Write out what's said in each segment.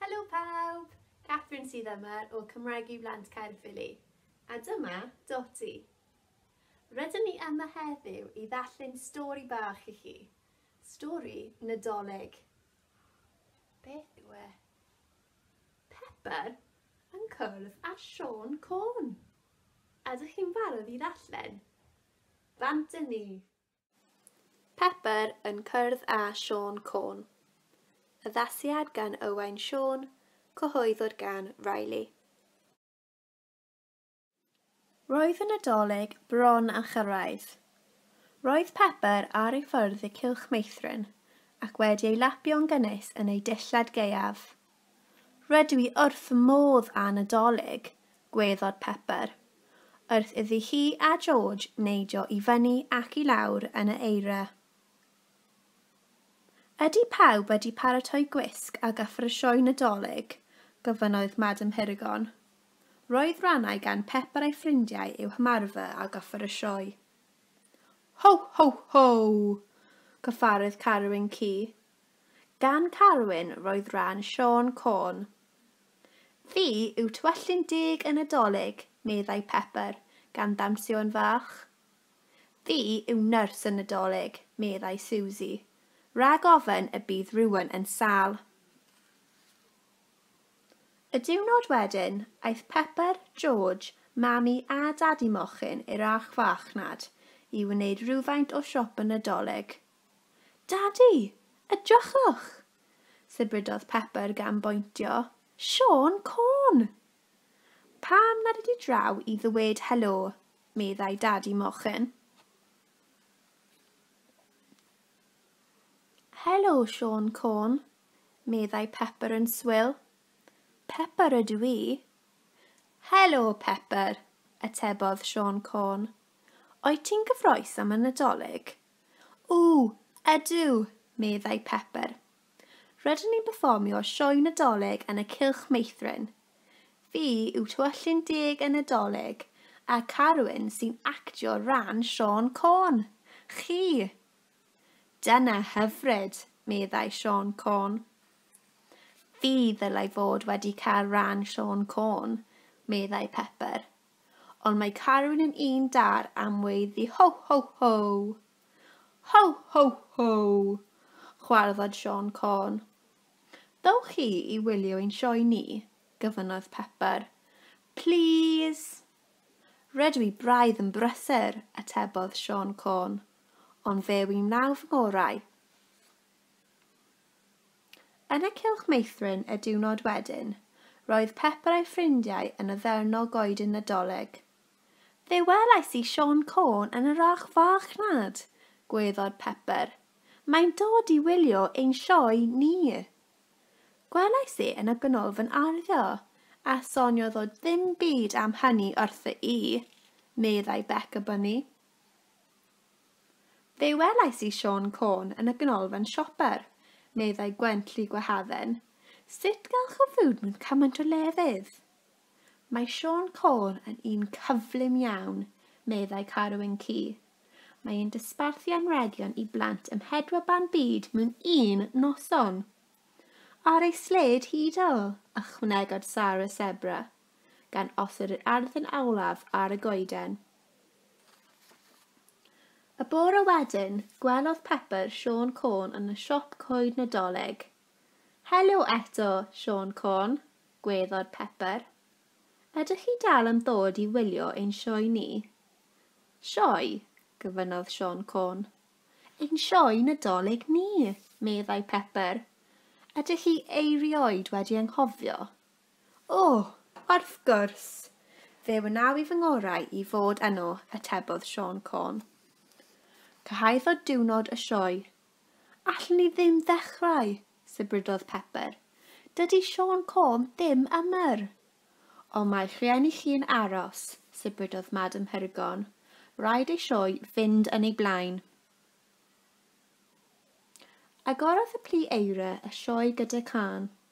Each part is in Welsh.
Helo pawb! Catherine sydd yma o Cymraeg i Blant Caerffili. A dyma Dotty. Rydyn ni yma heddiw i ddarllen stori bach i chi. Stori Nadolig. Beth yw e? Pepper yn cwrdd â Siôn Côn. Ydych chi'n barod i ddarllen? Bant â ni! Pepper yn cwrdd â Siôn Côn. Addasiad gan Owain Siôn, cyhoeddwyd gan Riley. Roedd y Nadolig bron â chyrraedd. Roedd Pepper ar ei ffordd i Cylch Meithrin ac wedi ei lapio'n gynnes yn ei dillad gaeaf. Rydw i wrth fy modd â Nadolig, gweddod Pepper, wrth iddi hi a George neidio i fyny ac i lawr yn y eira. Ydy pawb wedi paratoi gwisg a gyfer y sioe Nadolig? gofynnodd Madam Hirugon. Roedd rannau gan Pepper a'i ffrindiau i'w hymarfer ar gyfer y sioe. Ho, ho, ho! cyffarodd Carwyn Ci, Gan Carwyn roedd rhan Siôn Corn. Fi yw twyllyn deg y Nadolig, meddai Pepper, gan ddawnsio yn fach. Fi yw nyrs y Nadolig, meddai Susie, rhag ofn y bydd rhywun yn sâl. Y diwrnod wedyn, aeth Pepper, George, Mami a Dadi Mochyn i'r archfarchnad i wneud rhywfaint o siop y Nadolig. Dadi! Edrychwch! sibrydodd Pepper gan bointio. Siôn Corn! Pam nad ydi draw i ddweud helo, meddai Dadi Mochyn. Helo, Siôn Corn, meddai Pepper yn swil. Pepper ydw i. Helo, Pepper, atebodd Siôn Corn. Oet ti'n gyffroes am y Nadolig? O, ydw, meddai Pepper. Rydyn ni'n perfformio sioe Nadolig yn y Cylch Meithrin. Fi yw Tywysllyn Deg y Nadolig, a Carwyn sy'n actio ran Siôn Corn. Chi! Dyna hyfryd, meddai Siôn Corn. Fi ddylai fod wedi cael ran Siôn Corn, meddai Pepper. Ond mae Carwyn yn un dar am weiddi Ho ho ho! Ho ho ho! chwarddod Siôn Corn. Dowch chi i wylio ein sioe ni? gyfynodd Pepper. Plîs! Rydw i braidd yn brysur, atebodd Siôn Corn, ond fe wy'n wnaw fy ngorau. Yn y cylch meithrin y diwrnod wedyn, roedd Pepper a'i ffrindiau yn addurno goeden Nadolig. Fe welais i Siôn Côn yn yr arch farchnad! gwaeddodd Pepper. Mae'n dod i wylio ein sioe ni! Gwelais e yn y ganolfan arddio, a soniodd o ddim byd am hynny wrtho i, meddai Becca Bunny. Fe welais i Siôn Corn yn y ganolfan sioper, meddai Gwenlli Gwahadden. Sut gall o fyw mewn cymaint o lefydd? Mae Siôn Corn yn un cyflym iawn, meddai Carwyn Cu. Mae e'n dosbarthu anrhegion i blant ym mhedwar ban byd mewn un noson. Ar ei sled hidl, ychwanegodd Sarah Sebra, gan osod yr arddyn olaf ar y goeden. Y bore wedyn, gwelodd Pepper Siôn Côn yn y siop coed Nadolig. Helo eto, Siôn Côn, gweddod Pepper. Ydych chi dal am ddod i wylio ein sioe ni? Sioe? gyfynnodd Siôn Côn. Ein sioe Nadolig ni, meddai Pepper. Ydych chi eirioed wedi anghofio? O, wrth gwrs! Fe wnaw i fy ngorau i fod yno, atebodd Siôn Corn. Cyhoeddodd diwrnod y sioe. Allwn ni ddim ddechrau, sibrydodd Pepper. Dydy Siôn Corn ddim ymer. Ond mae rhieni chi yn aros, sibrydodd Madam Hurgon. Rhaid ei sioe fynd yn ei blaen. Agorodd y plu eira y sioe gyda cân.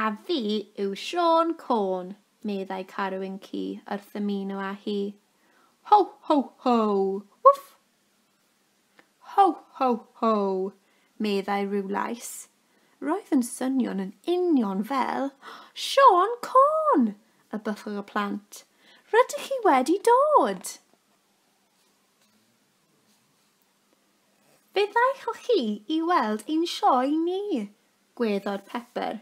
A fi yw Siôn Côn, meddai Carwyn Ci wrth ymuno â hi. Ho, ho, ho! Wff! Ho, ho, ho! meddai rhyw lais. Roedd yn swnio'n yn union fel Siôn Côn! y bythwch y plant. Rydych chi wedi dod! Fe ddaethoch chi i weld ein sioe ni! gweddor Pepper.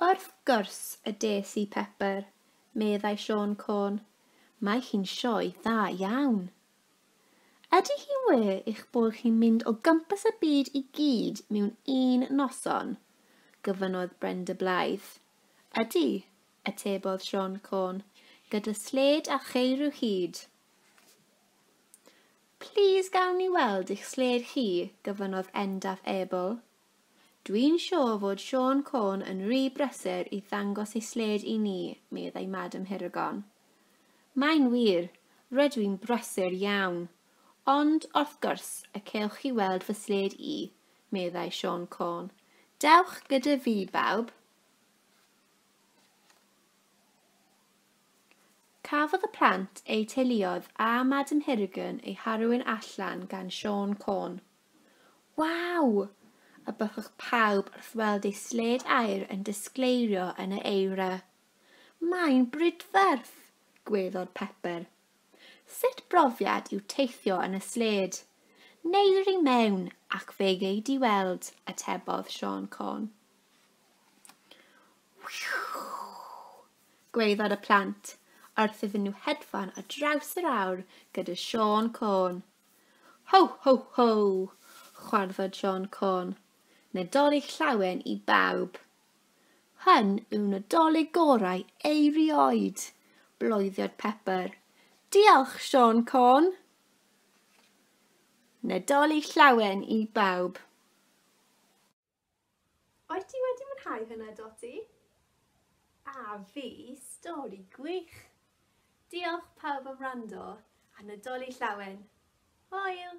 Wrth gwrs y des i Pepper, meddai Siôn Côn. Mae hi'n sioe dda iawn. Ydy hi'n wir eich bod chi'n mynd o gwmpas y byd i gyd mewn un noson? gofynnodd Brenda Blythe. Ydy, atebodd Siôn Côn, gyda sled a cheir i'w hyd. Plîs gawn ni weld eich sled chi, gofynnodd Endaf Abel. Dwi'n siŵr fod Siôn Corn yn rhy brysur i ddangos ei sled i ni, meddai Madam Hiragon. Mae'n wir, rydw i'n brysur iawn. Ond, wrth gwrs, y cewch chi weld fy sled i, meddai Siôn Corn. Dewch gyda fi, bawb! Cafodd y plant eu teuluoedd a Madam Hirrigan eu harwain allan gan Siôn Côn. Waw! y bychwch pawb wrth weld ei sled aer yn disgleirio yn y eira. Mae'n brydferth! gweddod Pepper. Sut brofiad yw teithio yn y sled? Neir i mewn ac fe gei di weld, atebodd Siôn Côn. Whew! Gwaeddodd y plant wrth iddyn nhw hedfan ar draws yr awr gyda Siôn Côn. Ho, ho, ho! chwarddodd Siôn Côn. Nadolig llawen i bawb! Hyn yw Nadolig gorau eirioed! bloeddiodd Pepper. Diolch, Siôn Côn! Nadolig llawen i bawb! Wyt ti wedi mwynhau hwnna, Dotty? A fi, stori gwych! Diolch pawb am wrando, a Nadolig Llawen! Hwyl!